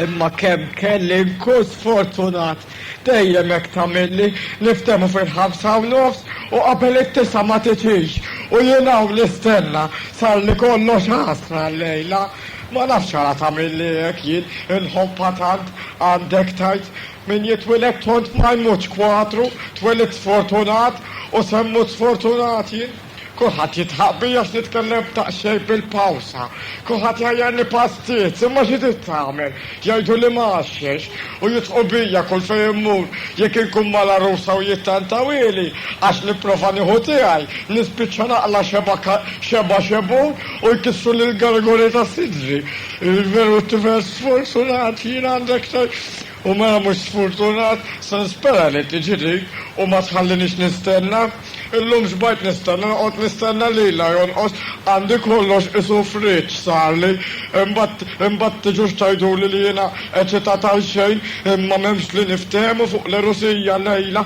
Imma kemm kelli nkun sfortunat dejjem hekk tagħmilli niftemu fil-ħamsa u nofs u qabel it-tisa ma titix u jien hawn nistenna sar li kollox ħasra llejla. Ma nafx għala tagħmilli hekk jien inħobba tant għandek tajt min jitwiled tont ma jmutx kwatru, twelidt sfortunat u se mmut sfortunat jien. Kulħadd jidħaq bi għax nitkellem b'daqsxejn bil-pawsa. Kulħadd jgħajjarni pastiz, imma xi trid tagħmel? Jgħiduli ma għaxxex, u jidħqu bija kull fejn immur. Jekk inkun mal-għarusa u jittantawili għax nipprova nieħu tiegħi, nispiċċa naqla' xebgħa xebgħa xebgħun u jkissruli l-gargoli ta' sidri. Veru t-tifel sfortunat jien għandi aktar U mela mhux sfurtunat? Se nispera li tiġi dik u ma tħallinix nistenna. Illum xbajt nistenna, noqgħod nistenna lilha jonqos. Għandi kollox isufriet x'sarli. Imbagħad, imbagħad tiġux tgħiduli li jiena eċitat għalxejn. Imma m'hemmx li niftehmu fuq l-għerusija llejla.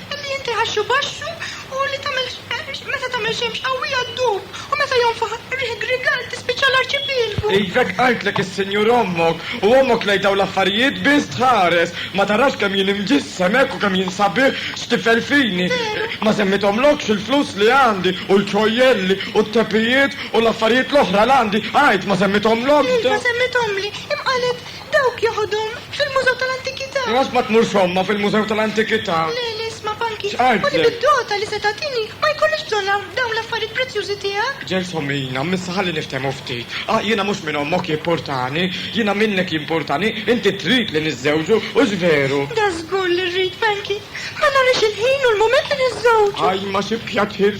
Ambjenti ħaxxu baxxu u li tagħmel meta tagħmel xemx qawwija ddub u meta jonfoħ riħ grigal tispiċċa l-arċipielgu. Ivek qaltlek is-Sinjur ommok u ommok lejn dawn l-affarijiet biss tħares, ma tarax kemm jien imġissem hekk u kemm jien sabiħ x'tifel fini. Ma semmejthomlokx il-flus li għandi u l-ċojjelli u t-tepijiet u l-affarijiet l-oħra l-għandi, għid, ma semmejthomlokx dawn? Iva semmejthomli, imma qalet Dawk joħodhom fil-Mużew tal-Antikità. Lanqas ma tmur somma fil-Mużew tal-Antikità. Le, le, isma' Panki. X'għidt Ħudi lei? bid-dota li se tagħtini ma jkollix bżonn għal dawn l-affarijiet prezzjużi tiegħek. Ġersom, Ina, m'issa ħalli niftehmu ftit. Ah, jiena mhux minn ommok jimpurtani. Jiena minnek jimpurtani. Inti trid li niżżewġu, hux veru? Dażgur li rrid, Panki. Ma narix il-ħin u l-mument li niżżewġu. Ajma, xi pjaċir!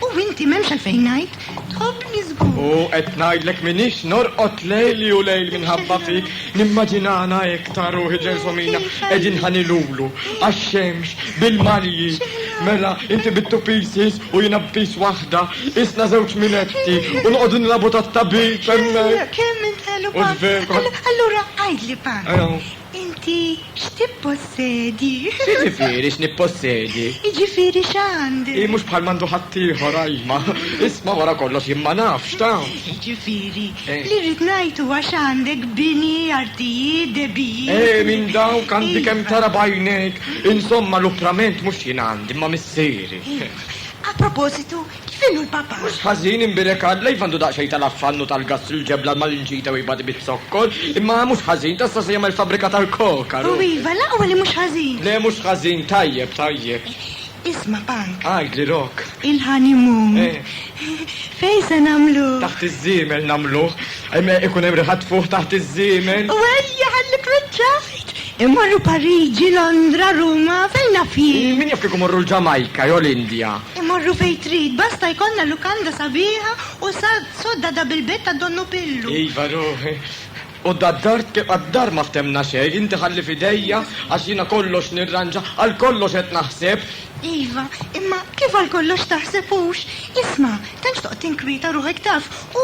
U inti m'hemmx għalfejn ngħid, tħobbni żgur. U qed ngħidlek minix norqod lejli u lejl minħabba fik, nimmaġinana hekk ta' ruħi ġelsomina qegħdin ħanilulu għax-xemx bil-malji. Mela, inti bittu pieces u jiena b'piece waħda, isna żewġ minetti u noqogħdu nilagħbu tat-tabib hemmhekk. Kemm int ħelu Pan. Allura għidli Pan, Inti x'tippossedi? X'jiġifieri x'nippossedi? Jiġifieri x'għandi? Hi mhux bħal m'għandu ħaddieħor, ajma. Isma' wara kollox jien ma nafx, taf. Jiġifieri, li rrid ngħid huwa x'għandek bini, artijiet, debit. Eh, minn dawk għandi kemm tara b'għajnejk. Insomma, l-upprament mhux jien għandi, imma missieri. A propositu, Kif inhu l-Papa? Mhux ħażin, imbierek Alla, iva għandu daqsxejn tal-affann u tal-gastru l-ġebla l-malinċita u jbati biz-zokkor, imma mhux ħażin, tassew se jagħmel fabbrika tal-koka, ru. U iva, l-aqwa li mhux ħażin. Le, mhux ħażin, tajjeb, tajjeb. Isma', Punk. Għidli, Rock. Il-honeymoon. Fejn se nagħmluh? Taħt iż-żiemel nagħmluh. Ikun hemm riħa tfuħ taħt iż-żiemel. U ejja, ħalli kwiċċajt! Immorru Pariġi, Londra, Ruma, fejn naf jien. Min jaf kieku morru l-Ġamajka jew l-Indja. Immorru fejn trid, basta jkollna lukanda sabiħa u sodda da bil-bed ta' donnu Pillu. Iva ruħi. U da d-dar tibqa' d-dar ma ftemna xejn, inti ħalli f'idejja għax jiena kollox nirranġa, għal kollox qed naħseb. Iva, imma kif għal kollox taħseb hux? Isma', tantx toqgħod tinkwieta ruħek taf, U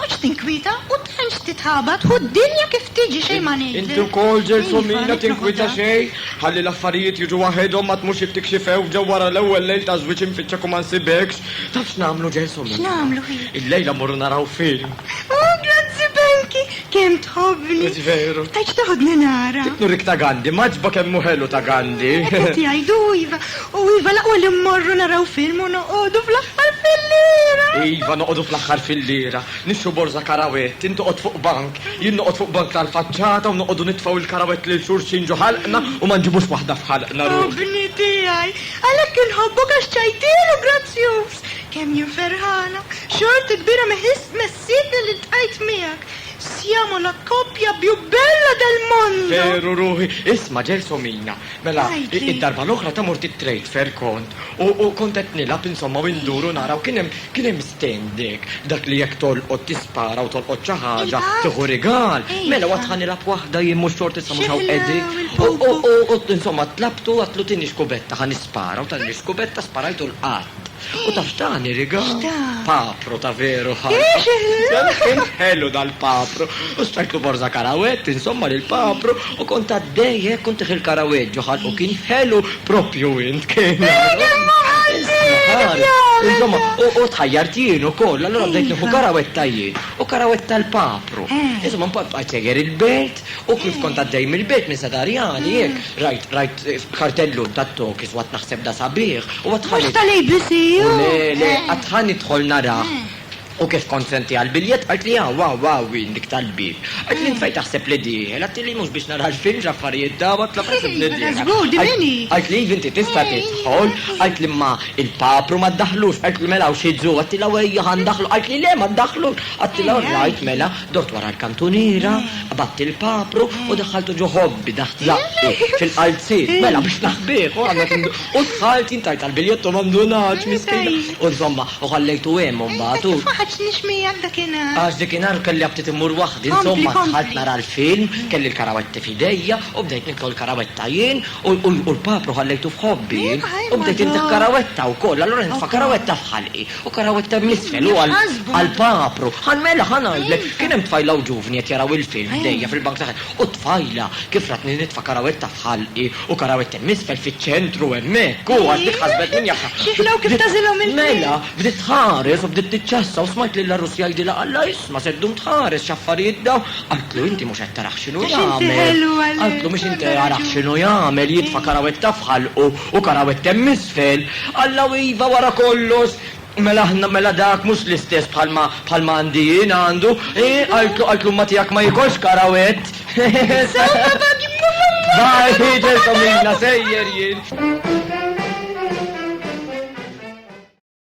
toqgħodx tinkwieta u tantx titħabat hu d-dinja kif tiġi xejn ma ngħidlek. Inti wkoll ġelsomina tinkwieta xejn ħalli l-affarijiet jiġu waħedhom ma tmurx jekk tikxifew ġew wara l-ewwel lejl ta' żwieġ infittxek u ma nsibekx. Taf x'nagħmlu ġelsomina? X'nagħmlu hi? Illejla mmorru naraw film. Oh grazzi Belki! Kemm tħobbni. Mhux veru. Għax toħodni nara. Dik nurik ta' Gandhi, m'għaġbok hemm hu ħelu ta' Gandhi. Hekk qed jgħidu iva. U iva l-aqwa li mmorru naraw film u noqogħdu fl-aħħar filliera. Iva noqogħdu fl-aħħar filliera. Nixtru borża karawett, int toqgħod fuq bank, jien noqgħod fuq bank tal-faċċata u noqogħdu nitfgħu il-karawett lil xulxin ġo ħalqna u ma nġibux waħda f'ħalqna ruħi. Obni tiegħi. Għalhekk inħobbok għax ċajtier u grazzjuż. Kemm jien ferħana. Xorti kbira messija. Siete li ltqajt miegħek, siamo la coppia più bella del mondo! Veru, ruħi! Isma', Gelsomina, mela, Ngħidli. id-darba l-oħra ta' mort it-trade-fair kont, u, u kont qed nilgħab, insomma, u ndur u nara u kien hemm, kien hemm stand hekk, dak li jekk tolqot tispara u tolqot xi ħaġa, Il-qatt? tieħu rigal. Ejja. Mela, u għad ħa nilgħab waħda jien mhux xort issa mhux Xi hawn ħla qegħdin. U, u, il-pupu. u, u, insomma, tlabtu, għadtlu tieni xkubetta ħa nispara u tani l-xkubetta sparajtu l-qatt. U taf dan iriga? Papro ta' veru ħajja. Ħelu dal-papro. U stajtlu borza karawet, insomma lil papro u kont għaddej hekk kont il karawet ġoħal u kien ħelu propju int kien. Insomma, u tħajjar jien ukoll, allura bdejt nieħu karawetta jien u karawetta l-papro. Insomma, mbagħad bqajt seger il-belt U kif kont għaddej mill-belt minn Santa Rjani, hekk, rajt, rajt kartellun tat-Tokis u għadt naħseb da sabiħ, u għadt ħa nidħol. Mhux tal-ABC, hu! Le, le, għadt ħa nidħol narah. U kif kont sentiha l-biljett, qaltli hawn, hawn, hawn hi, dik tal-bieb. Qaltli int fejn taħseb li dieħel? Għadtili mhux biex nara l-film x'affarijiet dawn, għadtla fejn taħseb li dieħel? Żgur, din min hi? Qaltli iva inti tista' tidħol, qaltli imma il-papru ma ddaħħlux, qaltli mela hawn xi dżu, għadtila u ejja ħa ndaħħlu, qaltli le ma ddaħħlux, għadtila orrajt mela. Dort wara l-kantuniera, qbadt il-papru u daħħaltu ġo ħobbi taħt zaqqi, fil-qalziet, mela biex naħbih u għadna tindu. U dħalt jien tajt għall-biljett u ma ndunatx, miskina. U insomma, u ħallejtu hemm imbagħad u. Ma ħaddxnix miegħek dakinhar. Għax dakinhar kelli aptit immur waħdi, insomma dħalt nara l-film, kelli l-karawetti f'idejja u bdejt niklu l-karawetta jien u l-papru ħallejtu f'ħobbi jien u bdejt intiħħ karawetta wkoll, allura nitfa' karawetta f'ħalqi. Fakar hawn it-term l-isfel huwa għall-papru. Ħa mela ħa ngħidlek, kien hemm tfajla u ġuvni qed jaraw il-film ħdejja fil-bank ta' ħalq u t-tfajla kif ratni nitfakar hawn it-taħt ħalqi u karaw it-term isfel fiċ-ċentru hemmhekk u għad dik ħasbet min jaf. X'ieħlew kif tagħżilhom il-film. Mela, bdiet tħares u bdiet tiċċassa u smajt lil Arus jgħidilha Alla jisma' se ddum tħares x'affarijiet dawn. Qaltlu inti mhux qed taraħ x'inhu jagħmel. Qaltlu mhux inti qed taraħ x'inhu jagħmel jitfakar hawn it-taħt ħalqu U karawet kemm isfel, Alla u iva wara kollox, mela aħna mela dak mhux l-istess bħalma bħalma għandi jien għandu, eeh, qaltlu qaltlu imma tiegħek ma jikolx karawett. Insomma bab jibqa' f'għammu. Bye Peter Tomina sejjer jien.